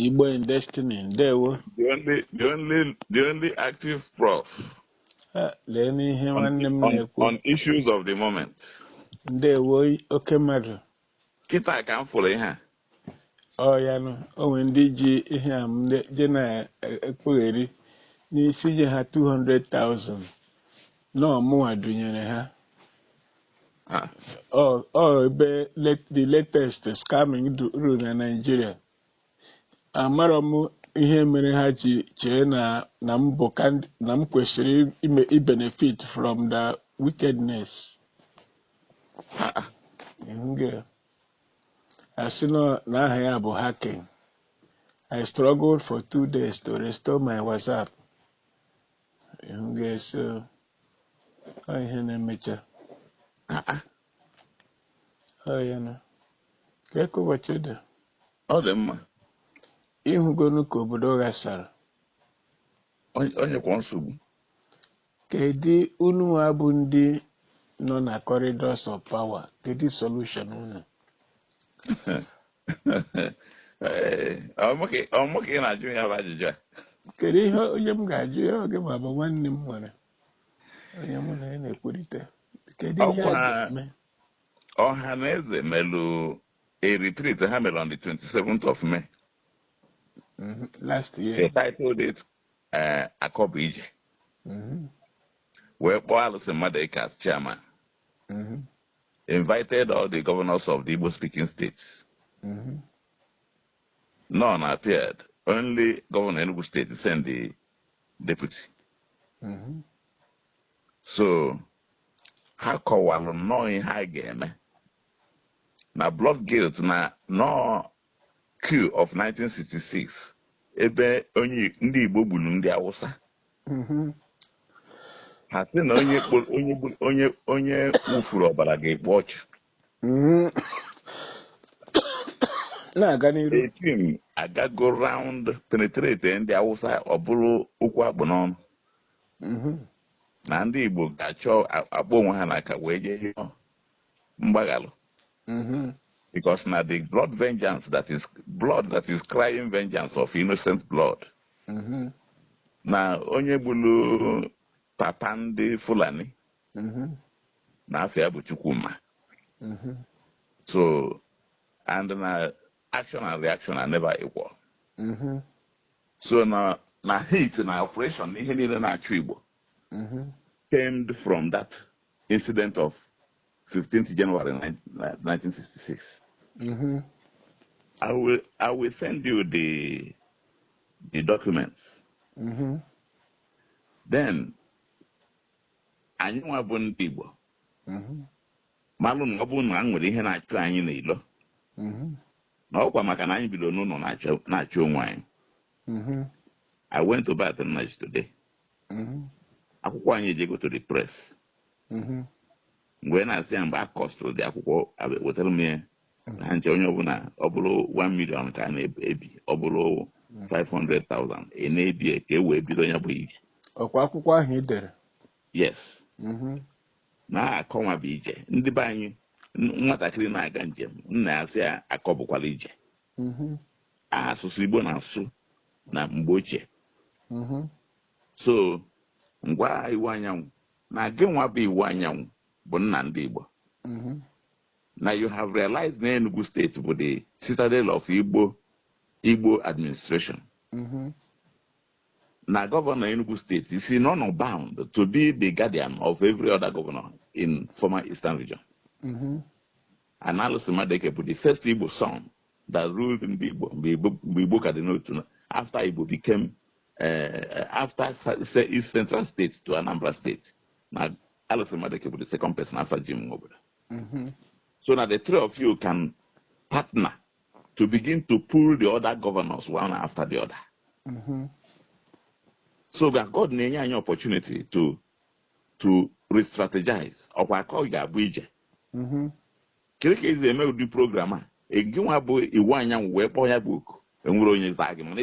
Igbo in Destiny, ndewo. The only, the only, the only active prof. Eh, lee n'ihe nwanne m na-ekwu. On issues of the moment. Ndewo oke mmadụ. Kịta ka m fụrụ ihe a. Ọ ya nụ, o nwere ndị ji aha m je na-ekpugheri na sị nye ha 200,000. na ọ mụnwa dunyere ha Ah, ọ ọ ebe let- the latest scamming du- ruru na Naịjirịa amarọ m ihe mere ha ji chee na na m bụ kandi- na m kwesịrị ime ibenefit from the wickedness ah, ah. Nge. a sị na aha ya bụ hacking I struggled for two days to restore my WhatsApp Ịhụgo. So. Ọ ihe na-emecha. Ọ ya na. Kee ka ụbọchị dị. Ọ dị mma. Ịhụgonu ka obodo ghasara. Onye- Onye kwa nsogbu. Kedu unu nwa bụ ndị nọ na corridors of power? Kedu solution unu? ọ mụ ka ị na-ajụ ya bụ ajụjụ a kedu ihe onye m ga-ajụ ya ọ gị nwa bụ nwanne m nwere onye mụ na ya na-ekwurịta kedu ihe a ga-eme Ọhanaeze melụ a retreat ha mere on the 27th of May mm-hmm. last year they titled it eh, akọ bụ ije mm-hmm. wee kpọọ Alison Madueke as chairman mm-hmm. invited all the governors of the Igbo speaking states. Mm -hmm. None appeared. Only Governor Enugu State sent the deputy. Mm -hmm. So, ha kọwalụ nnọọ ihe a ga-eme na blood guilt na na ọ coup of 1966 ebe onye ndị Igbo gburu ndị Awụsa mhm. ha sị na onye onye onye wụfuru ọbara ga-ekpu ọchụ mhm. na-aga n'iru a team agago round penetrate ndị Awụsa ọ bụrụ okwu a kpụ n'ọnụ mhm. na ndị Igbo ga-achọ akpọ onwe ha n'aka wee jee mgbaghalụ mm-hmm. because na the blood vengeance that is blood that is crying vengeance of innocent blood mm-hmm. na onye gburu papa ndị Fulani mm-hmm. na afa ya bụ Chukwuma so and na action and reaction are never equal so na na hate na oppression na ihe niile na-achụ Igbo mm-hmm. stemmed from that incident of 15th January 1966. Mm-hmm. I will I will send you the the documents. Mm-hmm. Then anyị nwa bụ ndị Igbo mm-hmm. malụ na ọ bụrụ na nwere ihe na-achụ anyị n'ilo mm-hmm. na ọkwa maka na anyị bido n'ụlọ na-achụ onwe anyị mm-hmm. I went to Baton Rouge today mm-hmm. akwụkwọ anyị ejego to the press mm-hmm. m wee na-asị ya mgbe a costụrụ the akwụkwọ wetara m ya mm-hmm. na nche onye ọbụla ọ bụrụ 1 million ka a na-ebi ọ bụrụ 500,000 a na-ebi ka e wee bido ya bụ ije ọkwa akwụkwọ ahụ ị dere yes na akọ nwa bụ ije ndị be anyị nwatakịrị na-aga njem nna ya sị ya akọ bụkwala ije mhm. asụsụ Igbo na-asụ na mgbe ochie mhm. so m gwa Iwuanyanwu na gị nwa bụ Iwuanyanwu bụ nna ndị Igbo mhm. na you have realized na Enugu State bụ the citadel of Igbo administration na Governor Enugu State is in honour bound to be the guardian of every other governor in former eastern region And Allison Madueke bụ the first Igbo son that ruled ndị Igbo mgbe Igbo ka dị n'otu after Igbo became uh, after East Central State to Anambra State na Allison Madueke bụ the second person after Jim Nwobodo mm-hmm. so na the three of you can partner to begin to pull the other governors one after the other mm-hmm. so God na-enye anyị opportunity to to re-strategize ọkwa akọ ga-abụ ije mm-hmm. kere ka esi eme ụdị program a gị nwa bụ Iwuanyanwu wee kpọọ ya bụ oku enwere onye zaa gị mana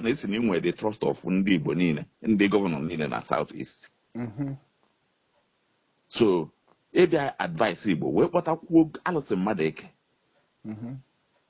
asị na i nwe the trust of ndị Igbo niile ndị gọvanọ niile na South East mm-hmm. so ị bịa advise Igbo wee kpọtakwuo Allison Madueke mm-hmm.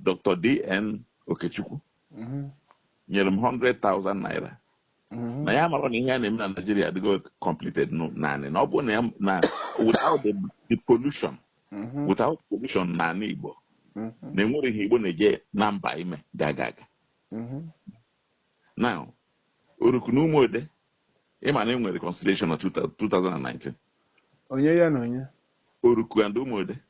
Dr. DN Okechukwu mhm. nyere m 100,000 naira mhm. na ya mara na ihe a na-eme na Naijiria adịgo completed naanị na ọ bụ na na without the pollution mhm. without pollution na ndị Igbo na enwere ihe Igbo na-eje na mba ime ga-aga aga now Oruku na Ụmụode ịma na enwere reconciliation na 2019 onye ya na onye Oruku and Ụmụode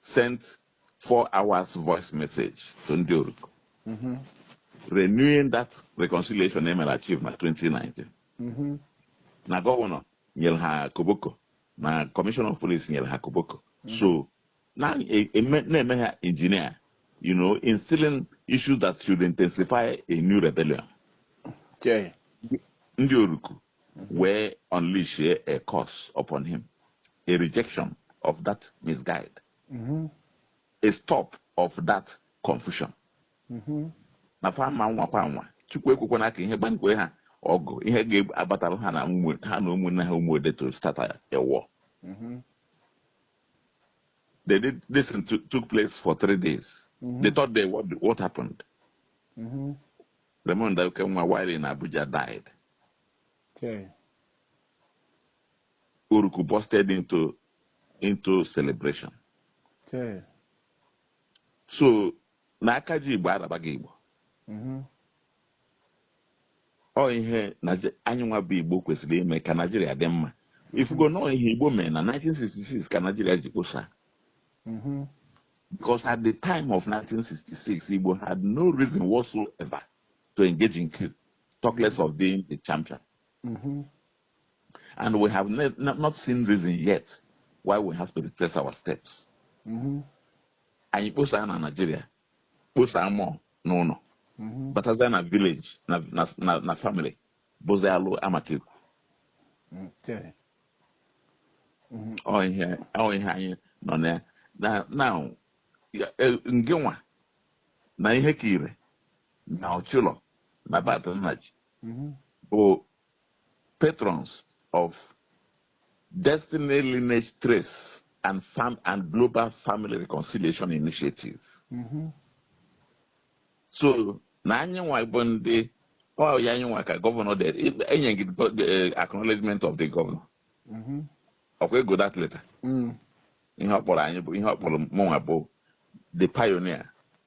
sent four hours voice message to ndị Oruku mm-hmm. renewing that reconciliation emere achieve na 2019 mm-hmm. na gọvanọ nyere ha koboko na commissioner of police nyere ha koboko mm-hmm. so na-eme ha engineer you know instilling issues that should intensify a new rebellion ndị Oruku wee unleash a curse upon him, a rejection of that misguide, mm-hmm. a stop of that confusion. Mm-hmm. na fa ma nwa kwa nwa chukwu ekwekwana ka ihe gbankwe ha ọgụ ihe ga-agbatara ha na ha na ụmụnne ha Umuode to start a war. Mm-hmm. They did this thing took place for three days. Mm-hmm. The third day, what what happened? Mm-hmm. Raymond Okenwa, while in Abuja, died. Okay. Oruku busted into into celebration. Okay. So na aka ji Igbo arabaghị Igbo. Mm-hmm. Ọ ihe anyị nwa bụ Igbo kwesịrị ime ka Naijiria dị mma. Mm-hmm. Ị fugo na ọ ihe Igbo mere na 1966 ka Naijiria ji kposa. Mm-hmm. Because at the time of 1966, Igbo had no reason whatsoever to engage in coup. talk less of being the champion. Mm -hmm. And we have not seen reason yet why we have to retrace our steps. Mm-hmm. anyị kposaa na naijiria kposaa mmụọ n'ụlọ mm-hmm. batazie na village na family bụzi alụ amaka ekwu mm-hmm. ọ ihe anyị nọ na ya na ngenwa na Ihekire na Ochulor na Barth Nnaji mhm. bụ patrons of Destiny Lineage Trace and Farm and Global Family Reconciliation Initiative. Mm -hmm. So na anyị nwa bụ ndị ọ ya anyị nwa ka governor dere enye gị eh, acknowledgement of the governor. Mm -hmm. ọkwa ego that letter. Mm. ihe ọ kpọrọ anyị bụ ihe ọ kpọrọ mụnwa bụ the pioneer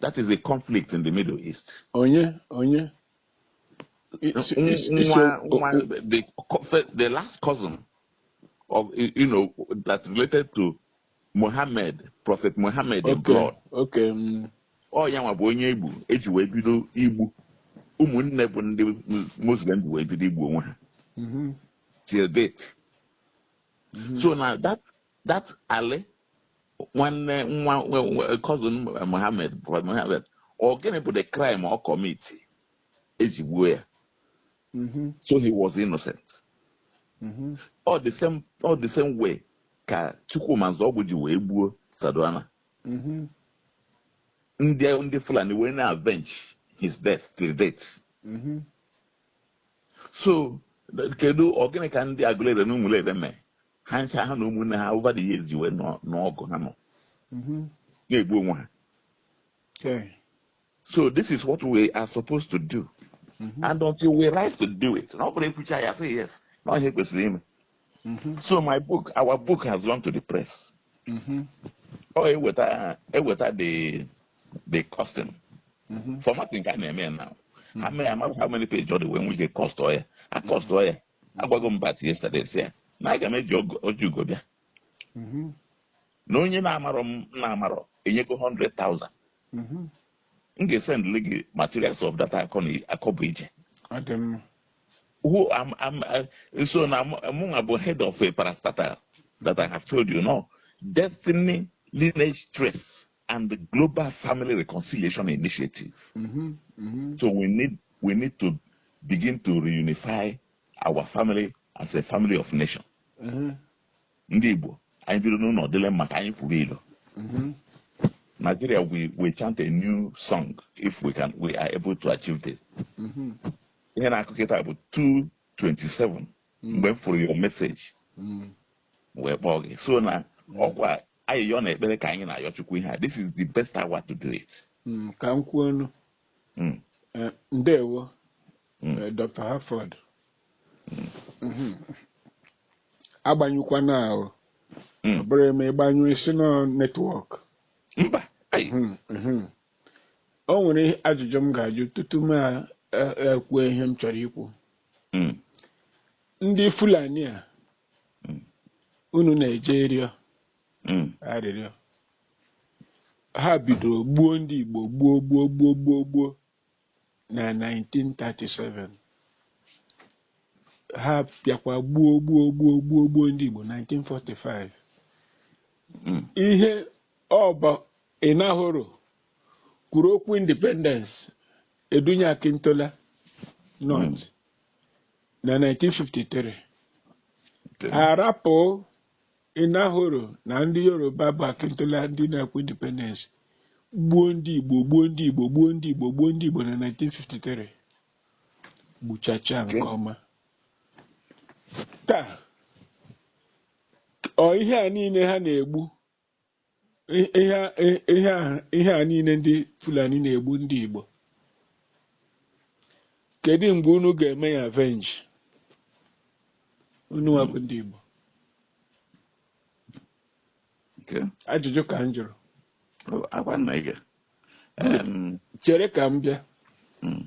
That is the conflict in the Middle East. Onye, onye. It's, it's, it's nwa, nwa, the, the last cousin of, you know, that related to Muhammad, Prophet Muhammad okay, in blood. Okay. Mm. Ọ ya nwa bụ onye e gburu e ji wee bido igbu ụmụnne bụ ndị Muslim ji wee bido igbu onwe ha. Mm-hmm. Till date. Mm-hmm. So now that that Ali nwanne nwa cousin Mohammed Mohammed ọ gịnị bụ the crime ọ commit eji gbuo ya mm-hmm. so he was innocent mm-hmm. ọ the same ọ the same way ka Chukwuma Nzeogwu ji wee gbuo Sardauna mm-hmm. ndị ndị Fulani wee na-avenge his death till date so kedu ọ gịnị ka ndị Agụleri na Ụmụleri mee ha ncha ha na ụmụnne ha over the years ji wee nọ n'ọgụ ha nọ Mhm. na-egbu onwe ha Okay. so this is what we are supposed to do Mhm. and until we rise to do it na ọ bụrụ ekwucha ya say yes na ọ ihe kwesịrị ime Mhm. so my book our book has gone to the press Mhm. ọ eweta eweta the the costing Mhm. formatting ka a na-eme ya now how many how many page ọ dị wee nwee ike cost ọ ya a cost ọ ya agwago m bat yesterday sị ya na aga m eji ogo- ọjị ugo bịa Mhm. na onye na-amarọ m na-amarọ enyego 100,000 Mhm. m ga-esendịrị gị materials of data akọ na akọ bụ ije Ọ dị mma. who am am uh, so na mụnwa bụ head of a parastatal that I have told you now destiny lineage trace and the global family reconciliation initiative Mhm. Mhm. so we need we need to begin to reunify our family as a family of nation mm-hmm. ndị Igbo anyị bido n'ụlọ dịlị mma ka anyị fụrụ ilo mm-hmm. Nigeria we will chant a new song if we can we are able to achieve this mm-hmm. ihe na-akụ kịta bụ 227 mgbe m fụrụ your message wee kpọọ gị so na ọkwa ayịyọ na ekpere ka anyị na-ayọ Chukwu ihe a this is the best hour to do it ka m kwuo Mm. Eh, ndewo Mm. eh, dr harford Mm. Mhm. agbanyụkwana ahụ Mm. ọ bụrụ e mee ị gbanyụ ị sị na ọ netwọk mba ai Mhm, mhm. o nwere ihe- ajụjụ m ga-ajụ tutu m a- e- ekwuo ihe m chọrọ ikwu Mm. ndị fulani a Mm. unu na-eje ịrịọ Mm. arịrịọ ha bidoro gbuo ndị Igbo gbuo gbuo gbuo gbuo gbuo na 1937 ha bịakwa gbuo gbuo gbuo gbuo gbuo ndị Igbo 1945 Mm. ihe ọ bụ Enahoro kwuru okwu independence e dunye Akintola north na 1953 Okay. arapụ Enahoro na ndị Yoruba bụ Akintola ndị na-ekwu independence gbuo ndị Igbo gbuo ndị Igbo gbuo ndị Igbo gbuo ndị Igbo na 1953 gbuchacha nke ọma taa ọ ihe a niile ha na-egbu I- ihe a- i- ihe a- ihe a niile ndị fulani na-egbu ndị igbo kedu mgbe unu ga-eme ya avenge unu nwa bụ ndị igbo Okay. ajụjụ ka m jụrụ Oh, ngwa na-aga. Em, chere ka m bịa mm,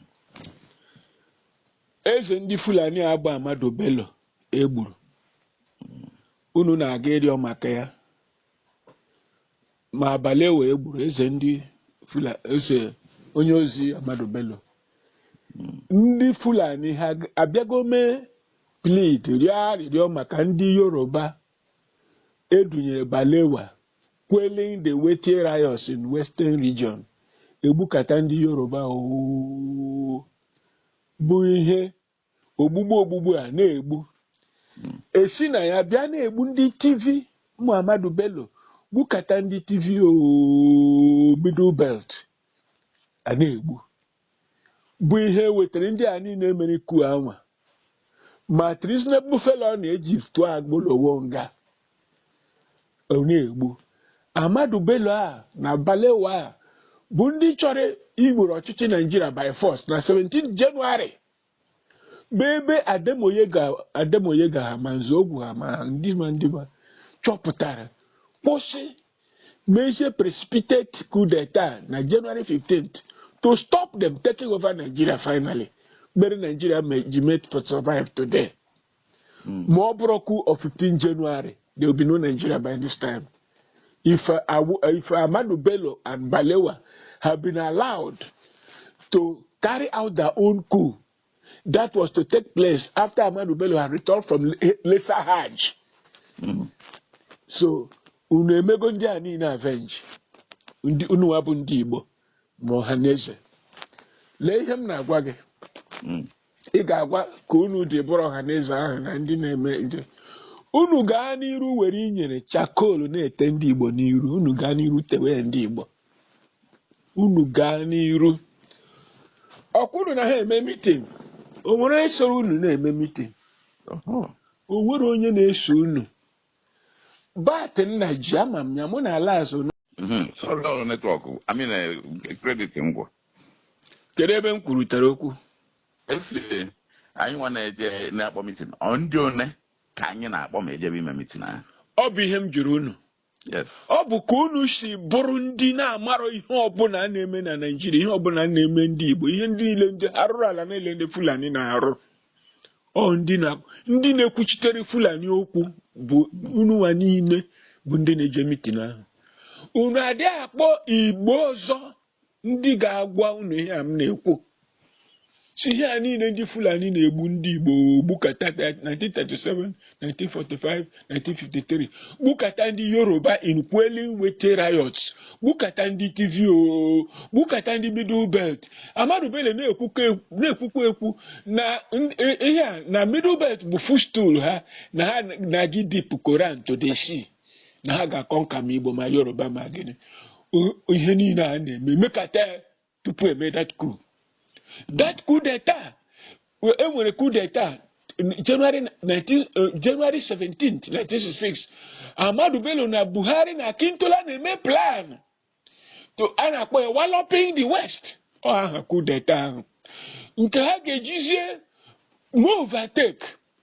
eze ndị fulani a bụ Ahmadu Bello e gburu unu na-aga ịrịọ maka ya ma Balewa e gburu eze ndị fula eze onye ozi Ahmadu Bello ndị Fulani ha abịago mee plead rịọ arịrịọ maka ndị Yoruba edunyere Balewa quelling the Wetie riots in Western Region egbukata ndị Yoruba oo bụ ihe ogbugbu ogbugbu a na-egbu esi na ya bịa na-egbu ndị Tiv Ahmadu Bello gbukata ndị Tiv ooo middle belt a na-egbu bụ ihe wetara ndị a niile mere coup a nwa ma treasonable felony e ji tụọ Awolowo nga ọ na-egbu Ahmadu Bello a na Balewa a bụ ndị chọrọ iweru ọchịchị Naijiria by force na 17 Jenụwarị bụ ebe Ademoyega ha ma Nzeogwu ha ma ndị ma ndị ma chọpụtara kwụsị mezie precipitate coup d'etat na January 15th to stop them taking over Nigeria finally mere Nigeria me- ji mee to survive today Hmm. ma ọ bụrọ coup of 15 January there will be no Nigeria by this time if, uh, if Amadu Bello and Balewa have been allowed to carry out their own coup that was to take place after Amadu Bello had returned from Lesser Hajj hmm. so unu emego ndị a niile avenge unuwa bụ ndị Igbo ma Ọhaneze lee ihe m na-agwa gị hmm. ị ga-agwa ka unu dị bụrụ Ọhaneze ahụ na ndị na-eme nje unu gaa n'iru were inyi er charcoal na-ete ndị igbo n'iru unu gaa n'iru tewe ndị igbo unu gaa n'iru ọkwa unu na ha eme mitin o nwere onye soro unu na-eme mitin o nwere onye na-eso unu bat nna ji ama m ya mụ na ala azụ hmm, ọrụ netwọk amị na kredit ngwa kedu ebe m kwurutere okwu a sị anyị nwa na-eje na-akpọ mitin ọ ndị one ka anyị na-akpọ ma ejebe ime mitin ahụ ọ bụ ihe m jụrụ unu ọ bụ ka unu si bụrụ ndị na-amarọ ihe ọbụla a na-eme na Naịjirịa ihe ọbụla na-eme ndị Igbo ihe ndị niile ndị arụrụ ala niile ndị Fulani na-arụ ọ ndị na ndị na-ekwuchitere fulani okwu bụ ununwa niile bụ ndị na-eje mitin ahụ unu adị akpọ igbo ọzọ ndị ga-agwa unu ihe a m na-ekwu sị ihe a niile ndị fulani na-egbu ndị igbo gbukata 1937 1945 1953 gbukata ndị yoruba in quelling wetie riots gbukata ndị tiv o gbukata ndị middle belt ahmadu bello na-ekwukwa ekwu- na-ekwukwa ekwu na n- i- ihe a na middle belt bụ footstool ha na ha na-aga ịdip koran to the sea na ha ga-aconquer ma igbo ma yoruba ma gịnị O- ihe niile a na-eme mekata ya tupu e mee that coup that coup d'etat e nwere coup d'etat January 19 eh, January 17th 1966 Ahmadu Bello na Buhari na Akintola na-eme plan to a na-akpọ ya walloping the west ọ aha coup d'etat ahụ nke ha ga-ejizie overtake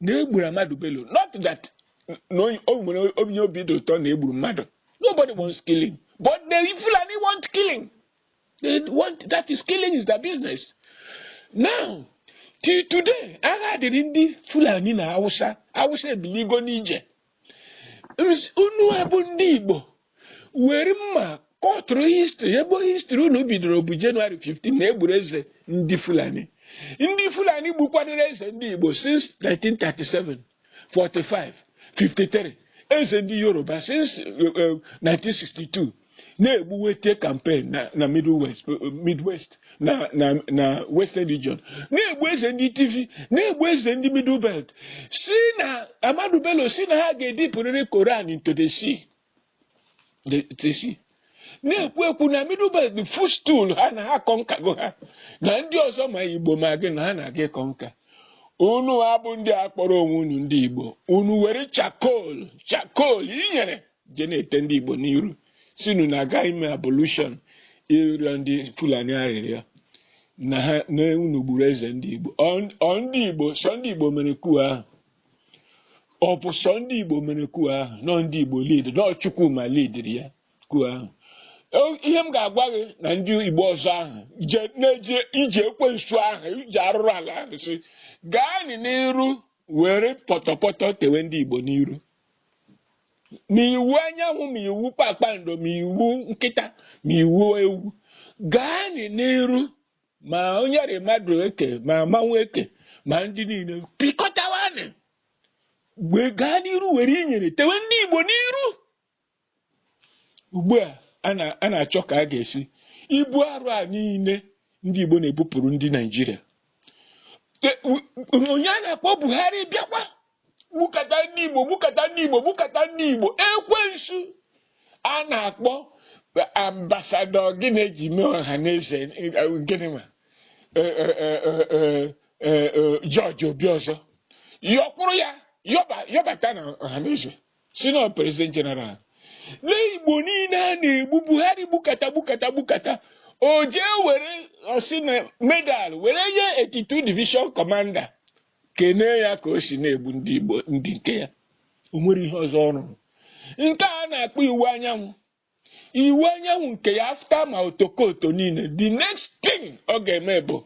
na e gburu Ahmadu Bello not that na onye- o nwere onye obi dị ụtọ na e gburu mmadụ nobody wants killing but the Fulani want killing they want that is killing is their business now till today agha dịrị ndị Fulani na Hausa Hausa ebiligo n'ije unu a bụ ndị Igbo were mma kọtụrụ history ebe history unu bidoro bụ January 15 na e gburu eze ndị Fulani ndị Fulani gbukwadoro eze ndị Igbo since 1937 45 53 eze ndị Yoruba since 1962 eh, eh, na-egbu Wetie campaign na na Middle West Midwest na na na Western Region na-egbu eze ndị Tiv na-egbu eze ndị Middle Belt si na Ahmadu Bello si na ha ga-edipụrịrị Koran into the sea the- the sea na-ekwu ekwu na Middle Belt bụ footstool ha na ha conquergo ha na ndị ọzọ ma Igbo ma gịnị na ha na-aga ịconquer unu a bụ ndị a kpọrọ onwe unu ndị Igbo unu were charcoal charcoal inyere je na-ete ndị Igbo n'iru sịnụ na a ga ime ablution ịrịọ ndị Fulani arịrịọ na ha na unu gburu eze ndị Igbo ọ ndị Igbo sọ ndị Igbo mere coup ahụ ọ bụ sọ ndị Igbo mere coup ahụ na ọ ndị Igbo lead na ọ Chukwuma leadiri ya coup ahụ ihe m ga-agwa gị na ndị Igbo ọzọ ahụ na-eje ije ekwensu ahụ ije arụrụ ala ahụ sị gaanị n'iru were pọtọpọtọ tewe ndị Igbo n'iru ma i wu anyanwụ ma i wu kpakpando ma i wu nkịta ma i wu ewu gaanị n'iru ma onye rị mmadụ eke ma mmanwụ eke ma ndị niile pịkọtawanị wee gaa n'iru were inyere tewe ndị Igbo n'iru ugbu a a na-achọ ka a ga-esi ibu arụ a niile ndị Igbo na-ebupụrụ ndị Naijiria onye a na-akpọ Buhari bịakwa gbukata ndị Igbo gbukata ndị Igbo gbukata ndị Igbo ekwensu a na-akpọ ambasadọ gịnị e ji mee Ohanaeze gịnị nwa George Obiozor yọkwụrụ ya yọbata na Ohanaeze sị na president general n'Igbo niile a na-egbu buhari gbukata gbukata gbukata o jee were ọ sị na medal were nye 82 division commander kenee ya ka o si na-egbu ndị igbo ndị nke ya o nwere ihe ọzọ ọ rụrụ nke a na-akpọ Iwuanyanwu Iwuanyanwu nke ya after ma Otokoto niile the next thing ọ ga-eme bụ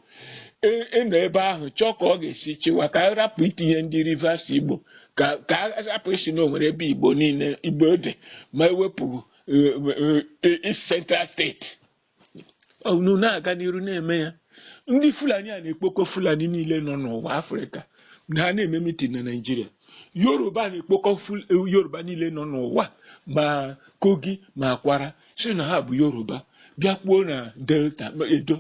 ị- ịnọ ebe ahụ chọọ ka ọ ga-esi chịwa ka a rapụ itinye ndị rivers igbo ka ka a rapụ ịsị na o nwere ebe igbo niile igbo dị ma e wepụ eh, eh, East Central steeti unu na-aga n'iru na-eme ya ndị fulani a na-ekpokọ fulani niile nọ n'ụwa afrịka na ha na-eme mitin na naijiria yoruba na-ekpokọ ful- yoruba niile nọ n'ụwa ma kogi ma Kwara sị na ha bụ yoruba bịakwuo na delta ma edo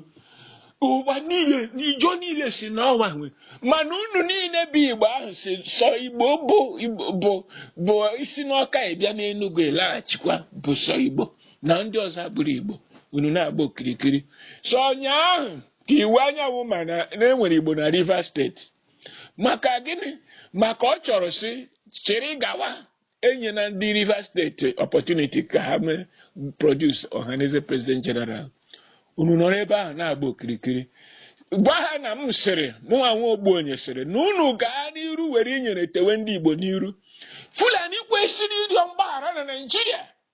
ụwa niile Ijaw niile sị na ọ wa nwe mana unu niile bụ igbo ahụ sị sọ igbo bụ Igbo- bụ bụ i si n'Ọka ị bịa n'Enugwu ị laghachikwa bụ sọ igbo na ndị ọzọ abụrọ Igbo unu na-agba okirikiri so ụnyaahụ ka Iwuanyanwu ma na e nwere Igbo na Rivers steeti maka gịnị maka ọ chọrọ isi chịrị gawa enyena ndị Rivers steeti opportunity ka ha mee produce Ohanaeze president general unu nọrọ ebe ahụ na-agba okirikiri gwa ha na m sịrị mụnwa nwa ogbuonye sịrị na unu gaa n'iru were inyere tewe ndị Igbo n'iru Fulani kwesịrị ịrịọ mgbaghara na Naịjirịa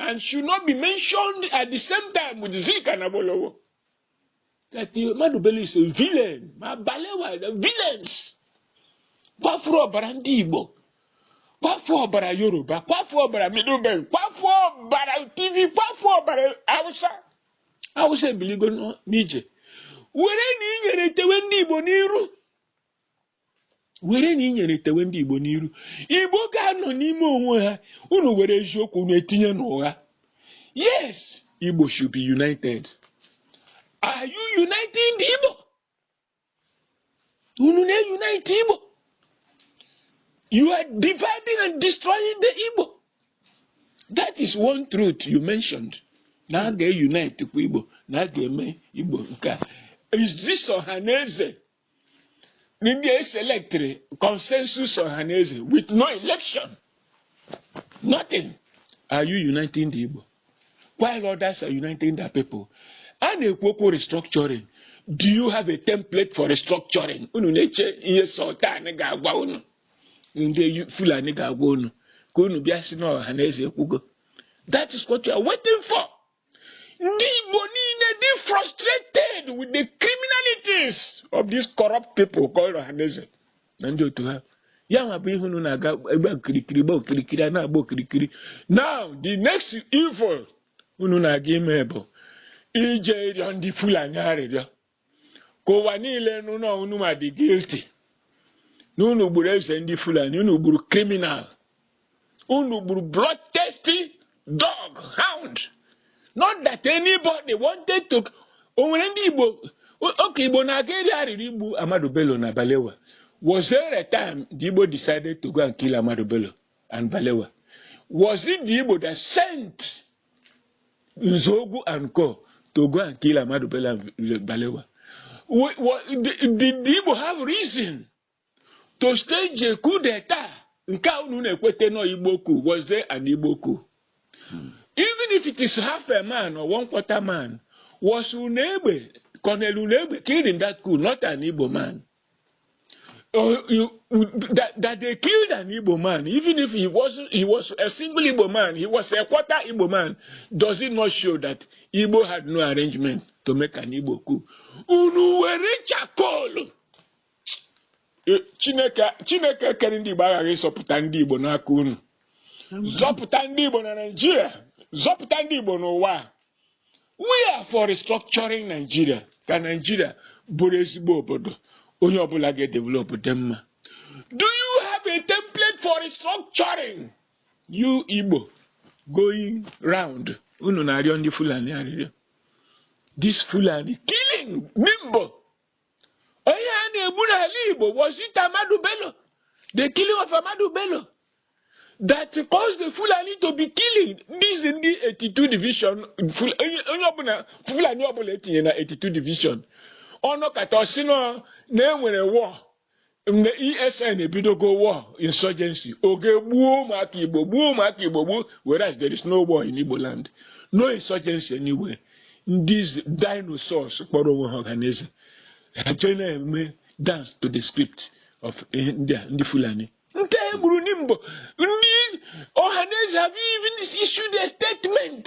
and should not be mentioned at the same time with Zik and Awolowo. That Ahmadu Bello is a villain. Ma Balewa, the villains. Kwafuru ọbara ndị Igbo. Kwafuru ọbara Yoruba. Kwafuru ọbara Middle Belt. Kwafuru ọbara Tiv. Kwafuru ọbara Hausa. Hausa ebiligo n'ije. Were na inyere tewe ndị Igbo n'iru. were na inyere tewe ndị Igbo n'iru Igbo ga-anọ n'ime onwe ha unu were eziokwu unu etinye n'ụgha yes Igbo should be united are you uniting the Igbo unu na-unite Igbo you are dividing and destroying the Igbo that is one truth you mentioned na a ga-unite kwa Igbo na a ga-eme Igbo nke a is this Ohanaeze ndị eselectịrị consensus Ohanaeze with no election nothing are you uniting the Igbo while others are uniting their people a na-ekwu okwu restructuring do you have a template for restructuring unu na-eche ihe sultan ga-agwa unu ndị Fulani ga-agwa unu ka unu bịa sị na Ohanaeze ekwugo that is what you are waiting for ndị Igbo niile dị frustrated with the criminalities of these corrupt people called Ohanaeze na ndị otu ha ya nwa bụ ihe unu na-aga agba okirikiri gba okirikiri a na-agba okirikiri now the next evil unu na-aga ime bụ ije rịọ ndị Fulani arịrịọ ka ụwa niile nụ na unu nwa dị guilty na unu gburu eze ndị Fulani unu gburu criminal unu gburu bloodthirsty dog hound not that anybody wanted to o nwere ndị Igbo oge Igbo na-aga eri arịrị igbu Ahmadu Bello na Balewa was there a time the Igbo decided to go and kill Ahmadu Bello and Balewa? Was it the Igbo that sent Nzogu and Co to go and kill Ahmadu Bello and Balewa? Did the Igbo have reason to stage a coup d'etat? Nke a unu na-ekwete nọ Igbo coup, was there an Igbo coup? Hmm. Even if it is half a man or one quarter man, was Unegbe, Colonel Unegbe killed in that coup, not an Igbo man? uh, you, that, that they killed an Igbo man, even if he was he was a single Igbo man, he was a quarter Igbo man, does it not show that Igbo had no arrangement to make an Igbo coup? Unu were charcoal. Eh, Chineke Chineke kere ndị Igbo aghaghị ịzọpụta ndị Igbo n'aka unu. Zọpụta ndị Igbo na Naịjirịa, zọpụta ndị Igbo n'ụwa. we are for restructuring Nigeria ka Nigeria bụrụ ezigbo obodo onye ọbụla ga-edevelop dị mma do you have a template for restructuring you Igbo going round unu na-arịọ ndị Fulani arịrịọ this Fulani killing Nimbo onye a na-egbu n'ala Igbo was it Ahmadu Bello the killing of Ahmadu Bello that caused the Fulani to be killing these ndị 82 division onye ọbụla Fulani ọbụla e tinye na 82 division ọ nọkata ọ sị na e nwere war ndị ESN ebidogo war insurgency ọ gaa gbuo ụmụaka Igbo gbuo ụmụaka Igbo gbuo whereas there is no war in Igbo land no insurgency anywhere these dinosaurs kpọrọ onwe ha Ohanaeze ha jee na-eme dance to the script of ndị a ndị Fulani ndị e gburu na Nimbo ndị Ohanaeze have you even issued a statement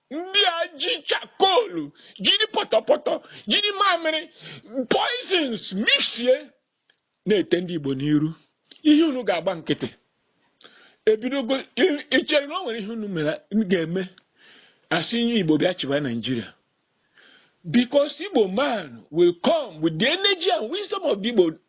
ndị a ji chakolu jiri pọtọpọtọ jiri mamịrị poisons mixie na-ete ndị Igbo n'iru ihe unu ga-agba nkịtị ebidogo i chere na o nwere ihe unu mere ga-eme a sị onye Igbo bịa chịwa Naijiria because Igbo man will come with the energy and wisdom of the Igbo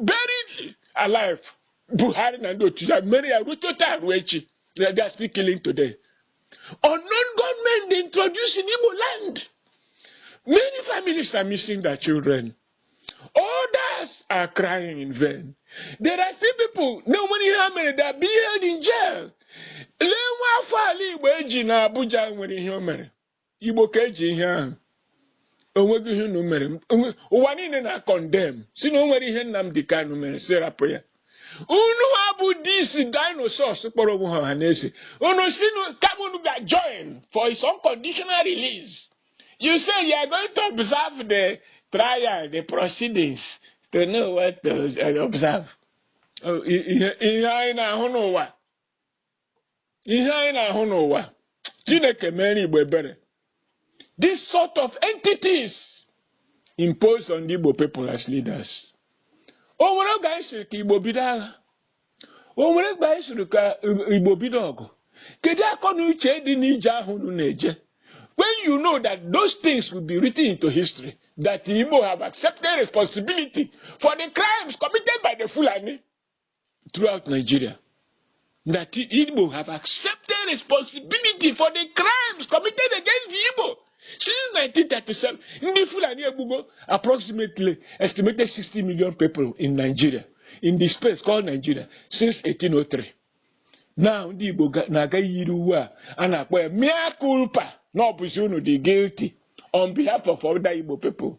buried alive buhari na ndị otu ya mere ya ruo taa ruo echi na they are still killing today unknown gunmen they introduced in igbo land many families are missing their children others are crying in vain there are still people na o nwere ihe ha mere they are being held in jail lee nwa afọ ala igbo e ji na abuja nwere ihe o mere Igbo ka e ji ihe ahụ o nweghị ihe unu mere ụwa niile na-condemn sị na o nwere ihe Nnamdi Kanu mere sị rapụ ya unu a bụ these dinosaurs kpọrọ onwe ha Ọhanaeze unu sị kama unu ga join for his unconditional release you say you are going to observe the trial the proceedings to know what to observe oh, ihe anyị na-ahụ n'ụwa ihe anyị na-ahụ n'ụwa chineke mere igbo ebere this sort of entities imposed on the igbo people as leaders o nwere oge anyị sịrị ka igbo bido agha o nwere oge anyị sịrị ka igbo bido ọgụ kedu akọ na uche dị n'ije ahụ unu na-eje when you know that those things will be written into history that Igbo have accepted responsibility for the crimes committed by the Fulani throughout Nigeria that Igbo have accepted responsibility for the crimes committed against the Igbo since 1937. Ndị Fulani egbugo approximately estimated 60 million people in Nigeria in the space called Nigeria since 1803. Now ndị Igbo na-aga yiri uwe a a na-akpọ ya mea culpa na ọ bụzi unu dị guilty on behalf of other Igbo people.